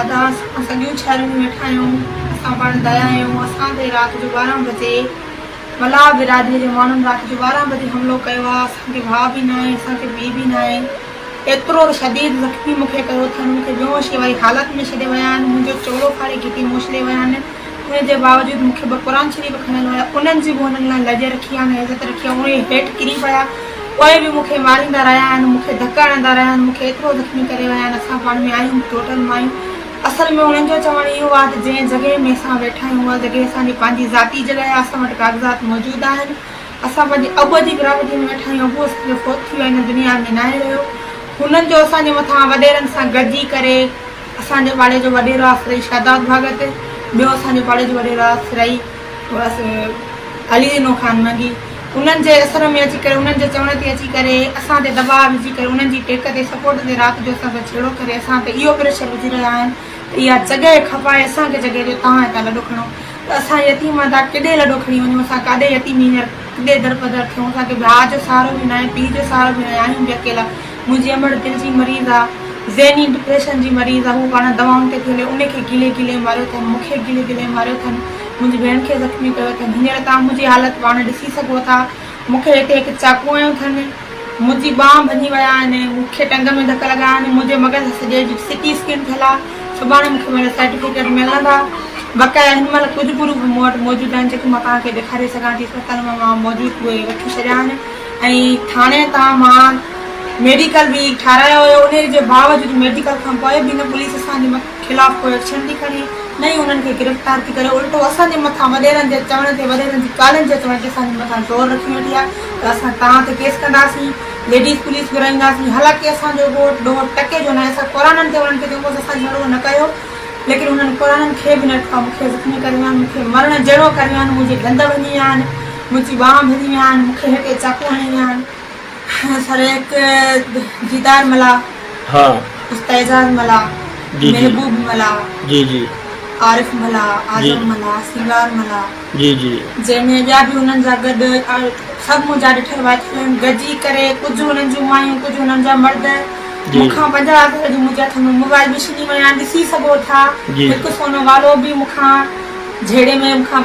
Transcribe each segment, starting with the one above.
ادا اسان سڄو شھر ۾ ويٺا آھيون اسان پاڻ ضايع آھيون اسان تي رات جو ٻارهن بجي ملاح برادري جي ماڻھن رات جو ٻارهن بجي حملو ڪيو آھي اسان کي ڀاء به ناھي اسان کي پيء به ناھي ايترو ته شديد زخمي مون کي ڪيو اٿن مون کي بيهوشي واري حالت ۾ ڇڏي ويا آھن منھنجو چولو ڦاڙي گھٽي موشلي ويا آھن ان جي باوجود مون کي ٻه قرآن شريف کڻڻ آيا، انهن جي به انهن لاء لڄ رکي آهن ۽ عزت رکي آهي، اهي هيٺ ڪري پيا، پوء به مون کي ماريندا رهيا آهن، مون کي ڌڪ هڻندا رهيا آهن، مون کي ايترو زخمي ڪري ويا آهن، اسان پاڻ ۾ آهيون به ٽوٽل مايون. اصل ۾ انهن جو چوڻ اهو آهي ته جنهن جڳهه ۾ اسان ويٺا آهيون، اها جڳهه اسان جي پنهنجي ذاتي جڳهه آهي، اسان وٽ ڪاغذات موجود آهن، اسان پنهنجي ابو جي گرامٽيء ۾ ويٺا آهيون، ابو اسان جو فوت ٿي ويو آهي، هن دنيا ۾ ناهي رهيو، هنن جو اسان جي مٿان وڏيرن سان گڏجي ڪري. اسان جي پاڙي جو وڏيرو آ سرائي شهداد ڀاڳت، ٻيو اسان جي پاڙي جو وڏيرو آ سرائي علي زينو خان منگي، انهن جي اثر ۾ اچي ڪري انهن جي چوڻ تي اچي ڪري اسان تي دٻاء وجهي ڪري انهن جي ٽيڪ تي سپورٽ تي رات جو اسان سان ڇيڙو ڪري اسان تي اهو پريشر وجهي رهيا آهن ته اها جڳهه کپائي اسان کي جڳهه ڏيو تهان هتان لڏو کڻو ته اسان يتيم ادا ڪيڏي لڏو کڻي وڃون اسان ڪاڏي يتيم هينئر ڪيڏي درپدر ٿيون اسان کي ڀاء جو سهارو به ناهي پيء جو سهارو به ناهي آهيون به اڪيلا منهنجي امڙ دل جي مريض آ ذهني ڊپريشن جي مريض آ هو پاڻ دوائن تي کلي ان کي گلي گلي ماريو ٿن مون کي گلي گلي ماريو ٿن منهنجي ڀيڻ کي زخمي ڪيو ٿن هينئر توهان منهنجي حالت پاڻ ڏسي سگهو ٿا مون کي هتي هڪ چاقو هنيو ٿن منهنجي ٻانهن ڀڃي ويا آهن مون کي ٽنگ ۾ ڌڪ لڳا آهن منهنجي مغز سڄي جي سي ٽي اسڪين ٿيل آ سڀاڻي مون کي منهنجا سرٽيفڪيٽ ملندا بقايا هن مهل ڪجهه پروف مون وٽ موجود آهن جيڪي مان توهان کي ڏيکاري سگهان ٿي اسپتال مان مان موجود اهي وٺي ڇڏيا آهن ۽ ٿاڻي تان مان ميڊيڪل به ٺاهرايو هيو انهي جي باوجود ميڊيڪل کان پوء به نه پوليس اسان جي خلاف ڪو ايڪشن ٿي کڻي نه ئي انهن کي گرفتار ٿي ڪري الٽو اسان جي مٿان وڏيرن جي چوڻ تي وڏيرن جي ڪالن جي چوڻ تي اسان جي مٿان زور رکي ويٺي آهي ته اسان توهان تي ڪيس ڪنداسين ليڊيز پوليس گهرائينداسين حالانڪه اسان جو ڳوٺ ڏوهه ٽڪي جو ناهي اسان قرانن تي انهن کي چئون بس اسان جهڙو نه ڪيو ليڪن انهن قرانن کي به نه ٽڪا مون کي زخمي ڪري ويا آهن مون کي مرڻ جهڙو ڪري ويا آهن منهنجي ڏند ڀڃي ويا آهن منهنجي ٻانهن ڀڃي ويان، مون کي هيڪي چاقو هڻي ويان، سرهيڪ ديدار ملاح، استاد اعجاز ملاح، محبوب ملاح، عارف ملاح، اعظم ملاح، سينگار ملاح، جنهن ۾ ٻيا به انهن سان گڏ سڀ منهنجا ڏٺل وائتل آهن، گڏجي ڪري ڪجهه انهن جون مايون ڪجهه انهن جا مرد، مون کان پنجاهه اکر جي منهنجي هٿ ۾ موبائل به ڇني ويا آهن، ڏسي سگهو ٿا، هڪ سونو والو به مون کان جهيڙي ۾ مون کان.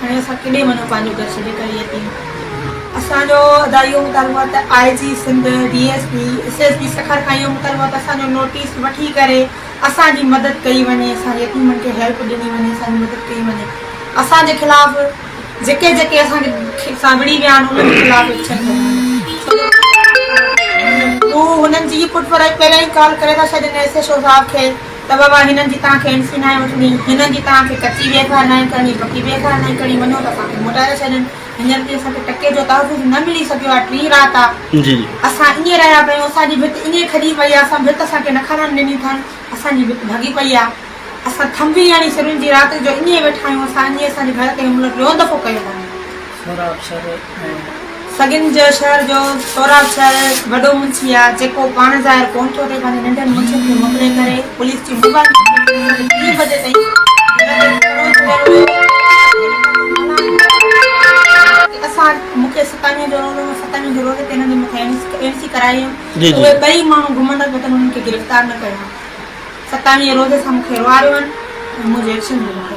هاڻي اسان ڪيڏي وڃون پنهنجو گهر ڇڏي ڪري يتيم اسان جو ادا اهو مطالبو آهي ته I G Sindh D S P S S P Sukkur کان اهو مطالبو آهي ته اسان جو نوٽيس وٺي ڪري اسان جي مدد ڪئي وڃي اسان يتيمن کي هيلپ ڏني وڃي اسان جي مدد ڪئي وڃي اسان جي خلاف جيڪي جيڪي اسان کي سان وڙهي ويا آهن انهن جي خلاف ايڪشن ڪيو وڃي هو هنن جي پٺ ڀرائي پهريان ئي ڪال ڪري ٿا ڇڏين ايس ايس او صاحب کي ته بابا هنن جي توهان کي اينٽري ناهي وٺڻي، هنن جي توهان کي ڪچي ويگهه ناهي ڪرڻي، پڪي ويگهه ناهي ڪرڻي، وڃو ته اسان کي موٽائي ٿا ڇڏين. هينئر تائين اسان کي ٽڪي جو تحفظ نه ملي سگهيو آهي، ٽين رات آ، اسان ائين رهيا پيا آهيون، اسان جي ڀت ائين کڄي پئي آ، اسان ڀت اسان کي نه کڻڻ ڏني اٿن، اسان جي ڀت ڀڳي پئي آ، اسان ٿنڀي هڻي سرين جي رات جو ائين ويٺا آهيون، اسان ائين اسان جي گهر تي حملو ٽيون دفعو ڪيو اٿن. سهراب شر ۽ سڳن جي شهر جو سهراب شر وڏو منشي آ جيڪو پاڻ ظاهر ڪون ٿو ٿئي پنهنجي ننڍن منشين کي موڪلي ڪري پوليس جي موبائل ٽيليفون کي ٽي بجي تائين گهر تي پهرو چڙهيل هيو ۽ اسان مون کي ستاويهن جو رولو هو ستاويهن جي رولي تي هن جي مٿان اين سي ڪرائي هيم ته اهي ٻئي ماڻهو گهمن رهن جيتن انهن کي گرفتار نه ڪيو هان ستاويهن جي رولي سان مون کي روئاريو هن ۽ منهنجي ايڪشن جي مون کي